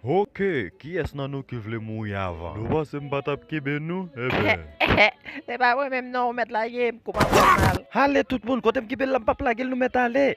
Ok kiyès nan nou ki vle mouri avan nou panse m pa tap kenbe nou ebyen. Se pa mwen menm non ou mèt lage m kouman fèm mal. Ale tout moun kotem kenbe l la m pap lagel nou mèt ale.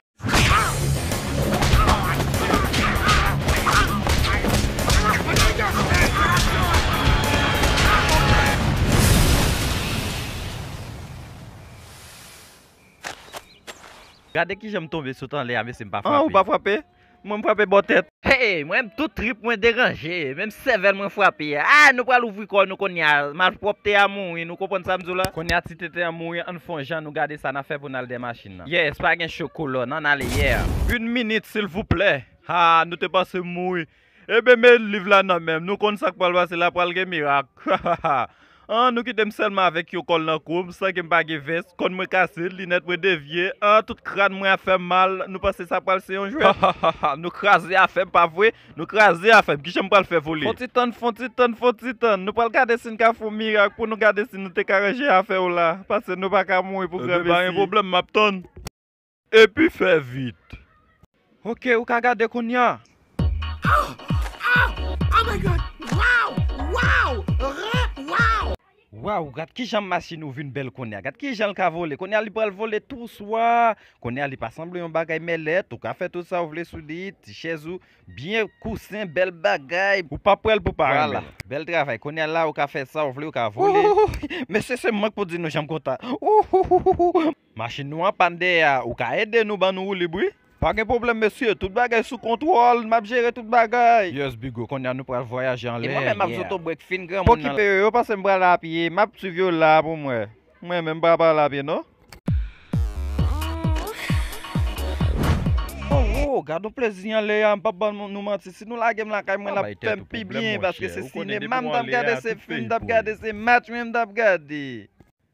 Gade kijan m tonbe sot anlè a mesye m pa frape. An ou pa frape? Mwen m frape bò tèt. Hey m renmn tout trip mwen deranje menm sèvèl mwen frape ah nou pral ouvri kò nou konnya malpwòpte a mouri nou konprann sa m di w la. Konnya ti tenten an mouri ann fon jan nou gade sa na fè pou n al dè machin nan. Yes pa gen cho kolòn ann ale yeah. Une minute silvouplè haa nou te panse m mouri. Eben men liv la nan menm nou konn sak pral pase la pral gen mirak hahaha an nou kitem sèlman avèk yon kòl nan koum san kem pa gen vès kòn mwen kase linèt mwen devye an tout kràn mwen ap fèm mal nou panse sa pral se yon jwèt hahaha nou kraze afèm pa vre nou kraze afèm kijanm pral fè vole. Fon ti tann fon ti tann fon ti tann nou pral gade sin ka fon mirak pou nou gade si nou te ka ranje afèw la pase nou paka mouri pou gran mesi. Eben pa gen pwoblèm map tann. Epi fè vit. Ok ou ka gade kounya. Ahh ahh oh my god waw waw ren waw. Waw gad kijan machine ou vin bèl konnya gad kijanl ka vole konnya li pral vole tou swa konnya li pa sanble yon bagay mèlèt ou ka fè tout sa ou vle sou li ti chèz ou byen kousen bèl bagay ou pap wèl pou pa renmenl vwala bèl travay konnya la ou ka fè sa ou vle ou ka vole Ouhouhou mesye se mank pou di nou janm kontan Ouhouhou. Machin nou an pann dèyè a ou ka ede nou ban nou woulib wi. Pa gen pwoblèm mesye, tout bagay sou kontwòl, map jere tout bagay. Yes bigo konnya nou pral vwayaje anlè yeah. E mwen menm map zotobrek fin granmoun nan. Pokipe yo yo pase m pral a pye map swiv yo la pou mwen mwen menm m pa pral a pye non. Oh oh gadon plezi anlè a m pap ban nou manti si nou lagem lakay mwen lap fèm pi byen paske se sinema m tap gade se fim m tap gade se match mwen m tap gade.